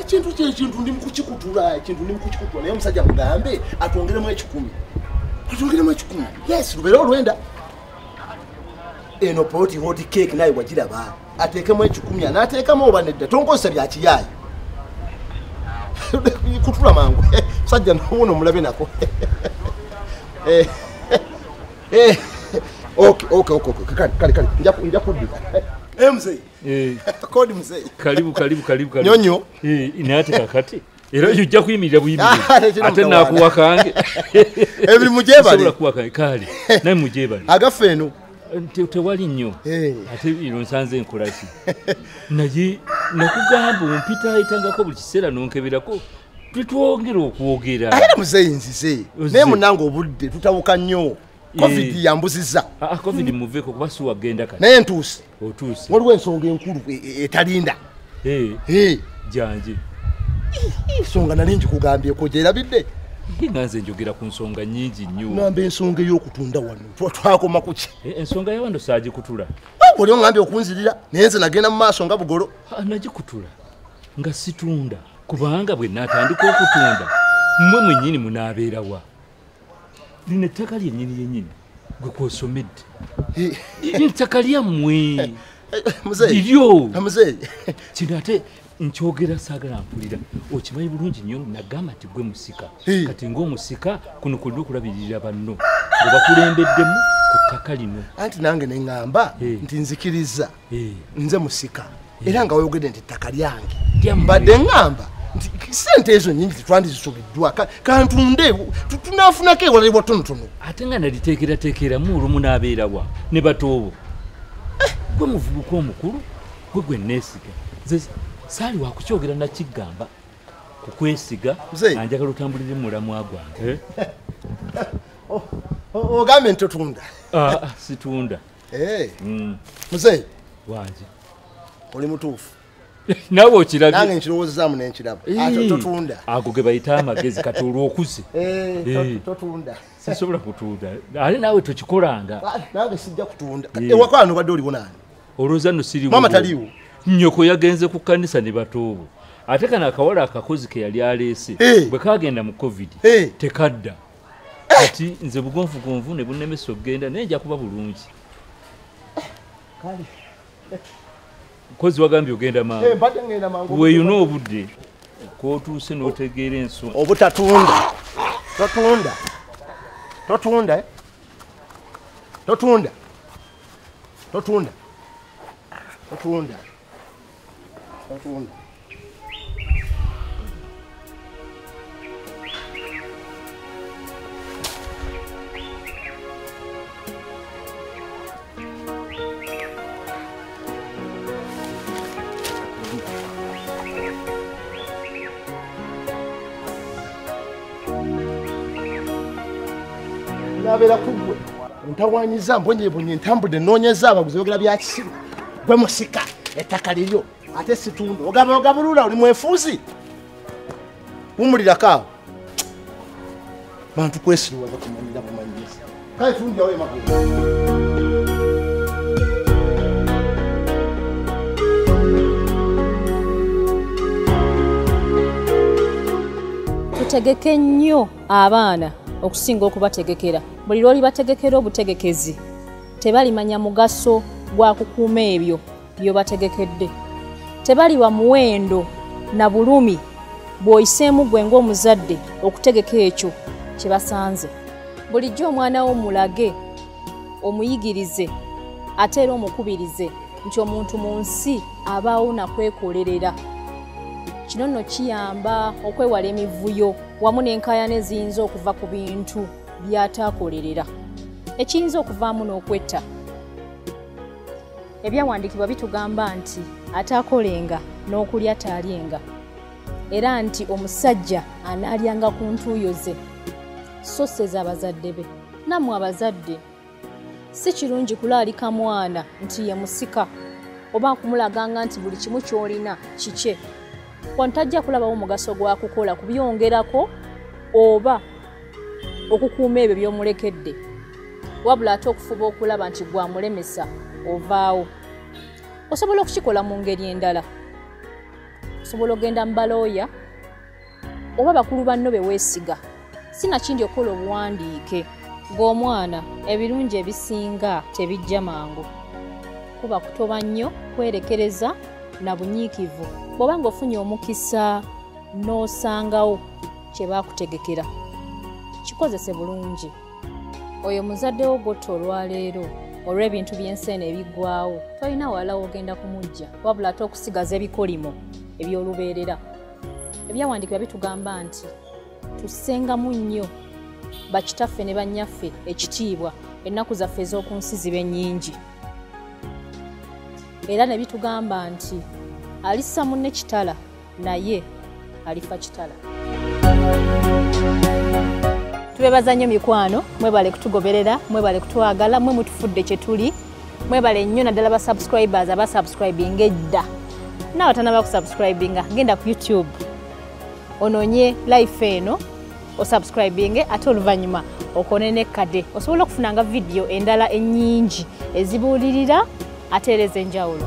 ekintu kye ekintu ndi mukukikutula ekintu ndi mukukikutula naye omusajja mugambe atwongeremu ekikumi atwongeremu ekikumi yes lubeere olwenda eno poti hoti cake naye wagiraba ateekemu ekikumi anaateekamu oba nedda tonkozesa byakiyaayo kutula mangu musajja nobuno omulabe nako eh, eh, ok ok ok kale kale nja kuddika eh, mzee Eh. kodi mzee karibu karibu karibu karibu nyonyo eh inati kakati era yujja kuyimirira buyimiri ah, ate nakuwa kange ebiri mujebali sobola kuwa kange kali naye mujebali agafe eno tewali nnyo eh. ate ino nsanze enkolaki naye nakugamba ompita ayitangako buli kiseera nonkeberako twetwongera okwogera era muzeyi nzize naye munange obudde tutawuka nnyo eh. covid yambuziza ah, ah, covid muveko kuba siwagenda kati naye ntuusi otuuse waliwo ensonga enkulu e, e, etalinda janji ensonga nali njikugambyeko gyerabidde nga nze njogera ku nsonga nyingi nnyo ngamba ensonga ey'okutunda wano twakoma kuki e, ensonga yawano saagikutula oli ongambye okunzirira naye nze nagenda mu maaso nga bugolo nagikutula nga situunda kubanga bwe natandika okutunda mmwe mwennyini munaabeerawa lino ettaka lyennyini lyennyini gwe kwosomedde ntaka lyammwe liryo kino ate nkyogera saagala mpulira okimanyi bulungi nnyo nagamba nti gwe musika kati ngaomusika kuno kulina okulabirira banno obakulembeddemu ku ttaka lino anti nange neŋŋamba nti nzikiriza eh. nze musika eh. era nga wayogedde nti ettaka lyange mbadde ŋŋamba nti sente ezo nyingi tetwandizisubiddwa kantunde tunafunako ewala ewatonotono ate nga naliteekerateekeramu olumu n'abeerawa ne batoobo eh. gwe muvubuka omukulu gwe gwe neesiga nze saali wakukyogera nakiggamba kukwesiga anjagala otambulire mulamwa gwange ogambye nti otunda ah, ah, situunda Eh. Mm. Mzee. Waje. Oli mutufu. Nawe okirabye. Nange nkirowoozezaamu ne nkiraba. Ato ah, totunda. Ago ge bayita amagezi kati olw'okuze. Eh, eh. totunda. Sisobola kutunda. Ali nawe tokikolanga. Ah, nange sijja kutunda. Eh. Ewako ano badde oliwo nani? Olowooza no siriwo. Mama taliwo. Nnyoko yagenze ku kkanisa ne batoobo. Ate kano akawala akakozi ke yali aleese. Bwe kaagenda mu covid. Tekadda. kati nze bugonvugonvu ne bunemesa okugenda naye nja kuba bulungi mukozi wagambye ogenda manguweyuna eh, obudde kwotuuse notegeera enso obutatunda totunda totunda eh? totunda totunda totunda nabeera kuggwe ntawanyiza mbonyebonye ntambudde noonyeza abaguzi bogera byakisiru gwe musika ettaka liryo ate situndo ogaba ogabulula oli mwefuuzi wumulirako awo bantu kwesiriwaza kumanyira bumanyiriza kale tunjawo emagulu tutegeke nnyo abaana okusinga okubategekera buli lwoli bategekera obutegekezi Tebalimanya mugaso gwa kukuuma ebyo by'obategekedde. Tebaliwa muwendo na bulumi bw'oyiseemu gwe ng'omuzadde okutegeka ekyo kye basanze. Bulijjo omwana wo mulage, omuyigirize ate era omukubirize nti omuntu mu nsi abaawo na kwekolerera. Kino nno kiyamba okwewala emivuyo wamu n'enkaayana eziyinza okuva ku bintu by'ataakolerera ekiyinza okuvaamu n'okwetta ebyawandiikibwa bitugamba nti ataakolenga n'okulya taalyenga era nti omusajja anaalyanga ku ntuuyo ze so sez'abazadde be nammwe abazadde si kirungi kulaalika mwana nti ye musika oba nkumulaganga nti buli kimu kyolina kikye wano tajja kulabawo mugaso gwa kukola kubyongerako oba okukuuma ebyo by'omulekedde wabula ate okufuba okulaba nti gwamulemesa ovaawo osobola okukikola mu ngeri endala osobola ogenda mu balooya oba bakulu banno be weesiga si nakindi okukola obuwandiike ng'omwana ebirungi ebisinga tebijja mangu kuba kutoba nnyo kwerekereza na bunyiikivu bw'oba ng'ofunye omukisa n'osangawo kye baakutegekera kikozese bulungi oyo muzadde wo gotta olwaleero olw'ebintu by'ensi eno ebiggwawo tolina wala wogenda kumujja wabula ate okusigaza ebikolimo eby'olubeerera ebyawandiikibwa bitugamba nti tussengamu nnyo bakitaffe ne bannyaffe ekitiibwa ennaku zaffe ez'oku nsi zibe nnyingi era ne bitugamba nti alissa munne kitala naye alifa kitala tubebaza nnyo mikwano mwebale kutugoberera mwebale kutwagala mwe mutufudde kye tuli mwebale nnyo naddala ba subscribers aba subscribing edda naawe atanaba ku subscribinga genda ku youtube ononye life eno osubscribinge ate oluvannyuma okone nekkade osobola okufunanga vidiyo endala ennyingi ezibuulirira ate era ez'enjawulo